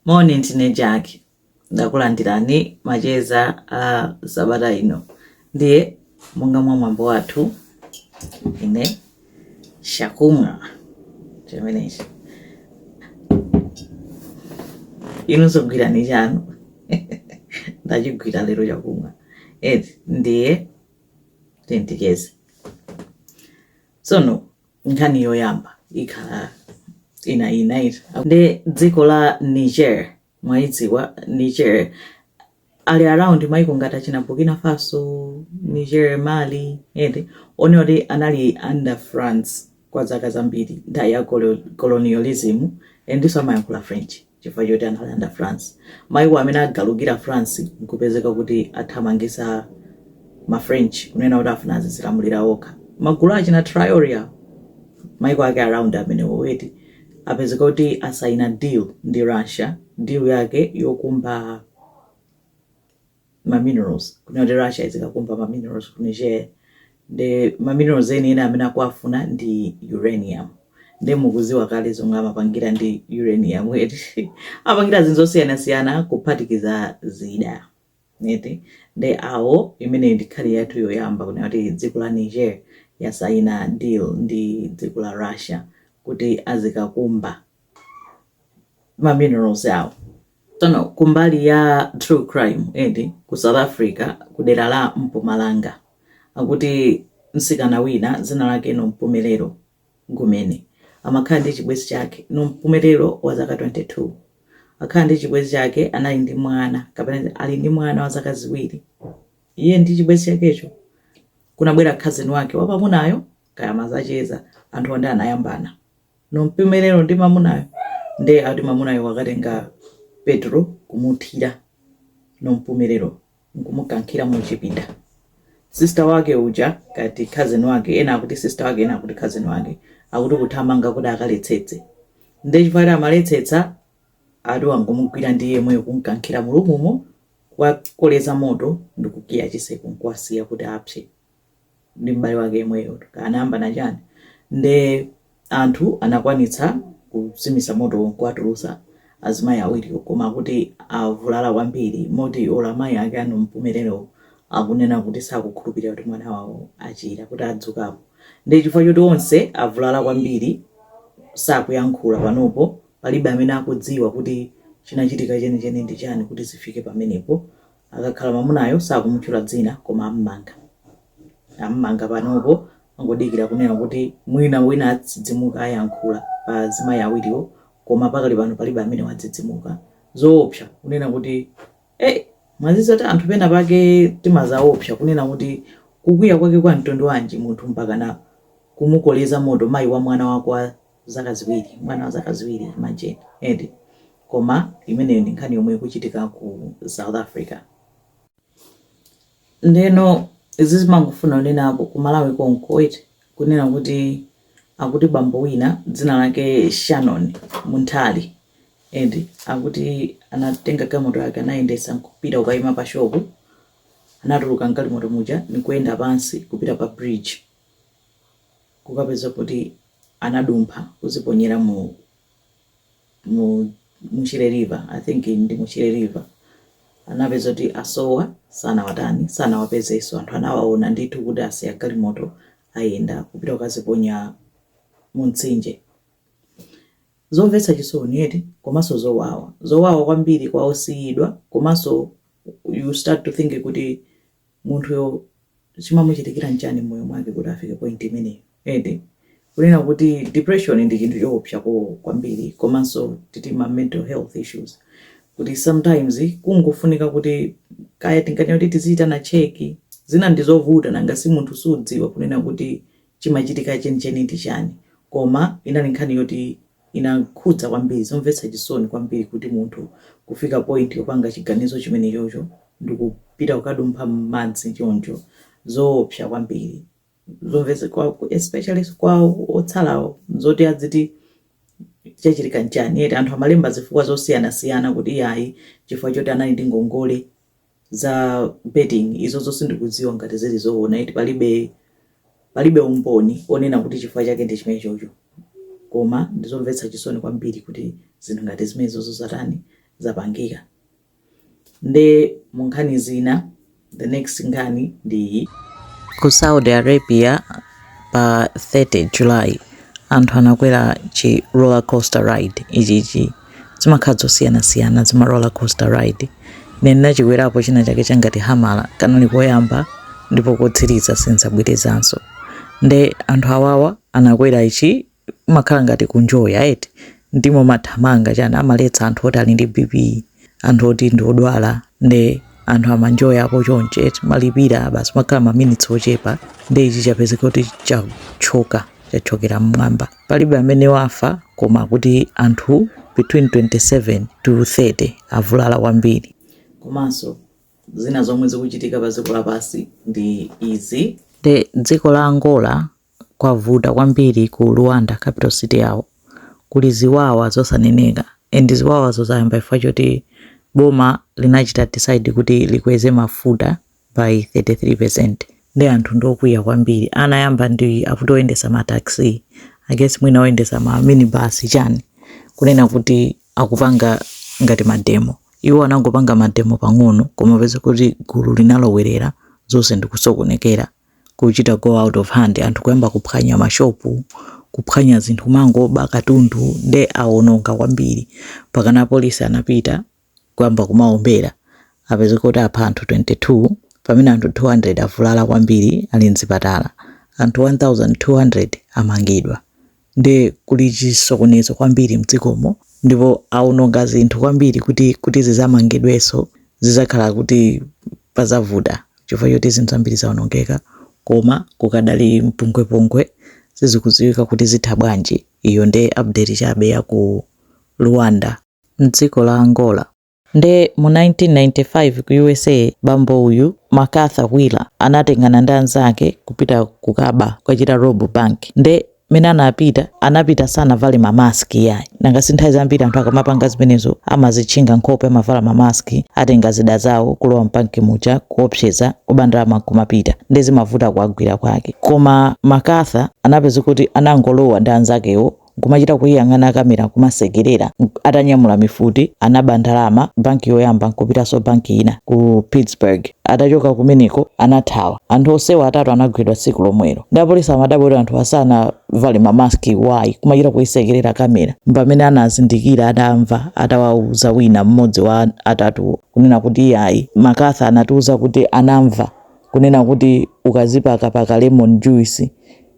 Moni ndine Jack. Ndakulandirani macheza a sabata ino. Ndiye monga mwa mwambo wathu ine chakumwa chimenechi. Inunso gwirani chanu. Ndachigwira lero chakumwa. Eti ndiye tiyeni ticheze. Tsono nkhani yoyamba ikhala ina ina iti ndi dziko la niger mwaidziwa niger ali around maiko ngati achina burkina faso niger mali ende onse oti anali under france kwa zaka zambiri nthawi ya colo- colonialism endiso amayankhula french Chifukwa choti anali under France. Maiko amene agalukira France nkupezeka kuti athamangisa ma French kunena kuti afuna azizilamulira okha. Magulu a achina Traore awa, maiko ake around amenewo eti, apezeka kuti asaina deal ndi Russia, deal yake yokumba ma minerals kunena kuti Russia izikakumba ma minerals ku Niger nde ma minerals eni eni amene akuwafuna ndi uranium nde mukuziwa kale zomwe amapangira ndi uranium eti apangira zinthu zosiyanasiyana kuphatikiza zida eti nde awo imeneyo ndi nkhani yathu yoyamba kunena kuti dziko la Niger yasaina deal ndi dziko la Russia kuti azikakumba ma minerals awo Tsono kumbali ya true crime eti ku South Africa kudera la Mpumalanga akuti mtsikana wina dzina lake Nompumelelo Gumeni amakhala ndi chibwenzi chake. Nompumelelo wa zaka 22 akhala ndi chibwenzi chake anali ndi mwana kapena kuti ali ndi mwana wa zaka ziwiri. Iye ndi chibwenzi chakecho kunabwera cousin wake wa mamunayo kaya amazacheza anthuwo nde anayambana. nompumelero ndi mamunayo nde ati mamunayo wakatenga petrol kumuthira nompumelero nkumukankhira mu chipinda sister wake uja kati cousin wake ena akuti sister wake ena akuti cousin wake akuti kuthamanga kuti akaletsetse nde chifukwa kuti amaletsetsa ati wangomugwira ndi iyeyo kumkankhira mu roomumo kuwakoleza moto ndikukiya chiseko nkuwasiya kuti apse ndi m'bale wake yemweyotu kaya anayambana chani nde anthu anakwanitsa kuzimitsa motowo nkuwatulutsa azimayi awiriwo koma akuti avulala kwambiri moti olo amayi ake a Nompumelelo akunena kuti sakukhulupirira kuti mwana wawo achira kuti adzukapo nde chifukwa choti onse avulala kwambiri sakuyankhula panopo palibe amene akudziwa kuti chinachitika chenicheni ndi chani kuti zifike pamenepo. Akakhala mwamunayo sakumutchula dzina koma ammanga. Ammanga panopo angodikira kunena kuti mwina wina adzidzimuka ayankhula pa azimayi awiriwo koma pakali pano palibe amene wadzidzimuka. Zoopsa kunena kuti eh mwadziwa zoti anthu pena pake timazaopsa kunena kuti kukwiya kwake kwa mtundu wanji munthu mpakana kumukoleza moto mayi wa mwana wa kwa zaka ziwiri, mwana wa zaka ziwiri imagine eti koma imeneyo ndi nkhani yomwe ikuchitika ku south africa ndeno izi zimangofuna kunena ku ku malawi konko eti kunena kuti akuti bambo wina dzina lake shannon munthali eti akuti anatenga galimoto yake anayendesa nkupita kukayima pa shop anatuluka mgalimoto muja nikuyenda pansi kupita pa bridge kukapeza kuti anadumpha kuziponyera mu mu Shire river i think ndi mu Shire river anapeza kuti asowa sanawatani sanawapezeso anthu anawaona ndithu kuti asiya galimoto ayenda kupita kukaziponya mu mtsinje zomvetsa chisoni eti komanso zowawa zowawa kwambiri kwa osiyidwa komanso you start to think kuti munthuyo chimamuchitikira nchani mmoyo mwake kuti afike point imeneyo eti kunena kuti depression ndi chinthu choopsa ko kwambiri komanso titi ma mental health issues kuti sometimes kungofunika kuti kaya tinganene kuti tizichitana cheki zina ndizovuta nanga si munthu sudziwa kunena kuti chimachitika chenicheni ndi chani koma inali nkhani yoti inakhudza kwambiri. Zomvetsa chisoni kwambiri kuti munthu kufika point yopanga chiganizo chimenechocho ndikupita kukadumpha mmadzi choncho. Zoopsa kwambiri. Zomvetsa kwa especially kwa otsalawo zoti aziti chachitika nchani eti. Anthu amalemba zifukwa zosiyanasiyana kuti iyayi chifukwa choti anali ndi ngongole za betting izozo sindikudziwa ngati zili zoona eti palibe palibe umboni onena kuti chifukwa chake ndi chimene chocho koma ndizomvetsa chisoni kwambiri kuti zinthu ngati zimene zozo zatani zapangika nde mu nkhani zina the next nkhani ndi iyi ku saudi arabia pa 30 july anthu anakwera chi roller coaster ride ichichi zimakhala zosiyanasiyana zima roller coaster ride ine ndinachikwerapo china chake changati hammer kanali koyamba ndipo kotsiriza sinzabwerezanso nde anthu awawa anakwera ichi makhala ngati kunjoya eti ndimo mathamanga chani amaletsa anthu oti ali ndi bp anthu oti ndi odwala nde anthu amanjoya apo chonchi eti malipira basi makhala maminitsi ochepa nde ichi chapezeka kuti chathyoka chathyokera mmwamba Palibe amene wafa koma akuti anthu between 27 to 30 avulala kwambiri. Komanso zina zomwe zikuchitika pa dziko lapansi ndi izi. Nde dziko la Angola kwavuta kwambiri ku Luanda capital city yawo kuli ziwawa zosaneneka and ziwawazo zayamba chifukwa choti boma linachita decide kuti likweze mafuta by 33% nde anthu ndiokwiya kwambiri anayamba ndi akuti oyendesa ma taxi i guess mwina oyendesa ma minibus chani kunena kuti akupanga ngati mademo iwo anangopanga mademo pang'ono koma peza kuti gulu linalowerera zonse ndikusokonekera kuchita go out of hand anthu kuyamba kuphwanya mashopu kuphwanya zinthu kumangoba katundu nde awononga kwambiri mpakana apolisi anapita kuyamba kumawombera apezeka kuti apha anthu 22 pamene anthu 200 avulala kwambiri ali m'zipatala, anthu 1,200 amangidwa. Ndiye kuli chisokonezo kwambiri m'dzikomo ndipo awononga zinthu kwambiri kuti zidzamangidwenso zidzakhala kuti padzavuta chifukwa choti zinthu zambiri zawonongeka. Koma kukadali mpungwepungwe, sizikudziwika kuti zitha bwanji. Iyo nde update chabe ya ku Luanda. m'dziko la Angola. Nde mu 1995 ku USA bambo uyu Macarthur Wheeler anatengana ndi anzake kupita kukaba kukawachita rob bank nde mene anapita anapita sanavale ma mask iyayi nanga si nthawi zambiri anthu akamapanga zimenezo amazitchinga nkhope amavala ma mask atenga zida zawo kulowa m'bank muja kuopseza kuba ndalama nkumapita nde zimavuta kuwagwira kwake koma Macarthur anapezeka kuti anangolowa ndi anzakewo nkumachita kuiyang'ana kamera kumasekerera atanyamula mifuti anaba ndalama banki yoyamba nkupitanso banki ina ku pittsburgh atachoka kumeneko anathawa anthu onsewa atatu anagwidwa tsiku lomwelo ndi apolisi amadabwa kuti anthu asanavale ma mask why kumachita kuisekerera kamera mpamene anazindikira adamva atawauza wina mmodzi wa atatuwo kunena kuti ayi Macarthur anatiuza kuti anamva kunena kuti ukazipakapaka lemon juice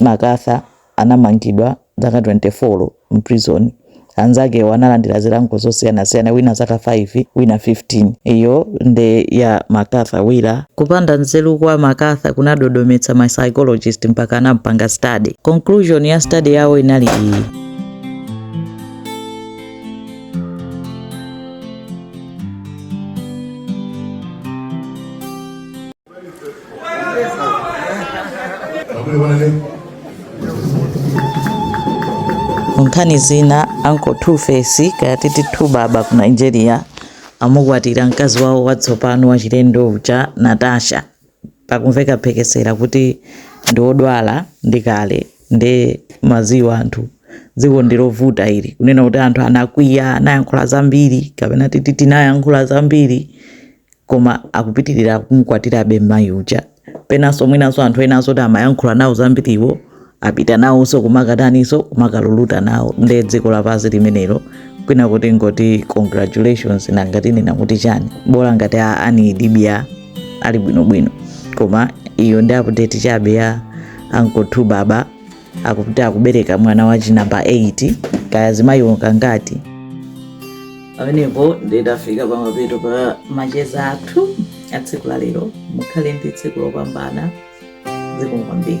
Macarthur anamangidwa zaka 24 m'prison. Anzakewo analandira zilango zosiyanasiyana wina zaka 5 wina 15. Iyo nde ya Macarthur Wheeler. Kupanda nzeru kwa Macarthur kunadodometsa ma psychologist mpaka anampanga study. Conclusion ya study yawo inali iyi. nkhani zina uncle two face kaya titi 2baba ku nigeria amukwatira mkazi wawo watsopano wachilendo uja natasha pakumveka phekesera kuti ndi odwala ndi kale nde mukudziwa anthu dziko ndilovuta ili kunena kuti anthu anakwiya anayankhula zambiri kapena titi tinayankhula zambiri koma akupitirira kumukwatirabe mayi uja penanso mwinanso anthu enanso kuti amayankhula nawo zambiriwo apita nawonso kumakataninso kumakalulutira nawo nde dziko lapansi limenelo kwina tingoti congratulations nanga tinena kuti chani bola ngati a annie idibia ali bwinobwino koma iyo ndi update chabe ya uncle two baba akuti akubereka mwana wachi namba 8 kaya mzimayiwo kangati pamenepo nditafika pamapeto pa macheza athu a tsiku la lero mukhale ndi tsiku lopambana zikomo kwambiri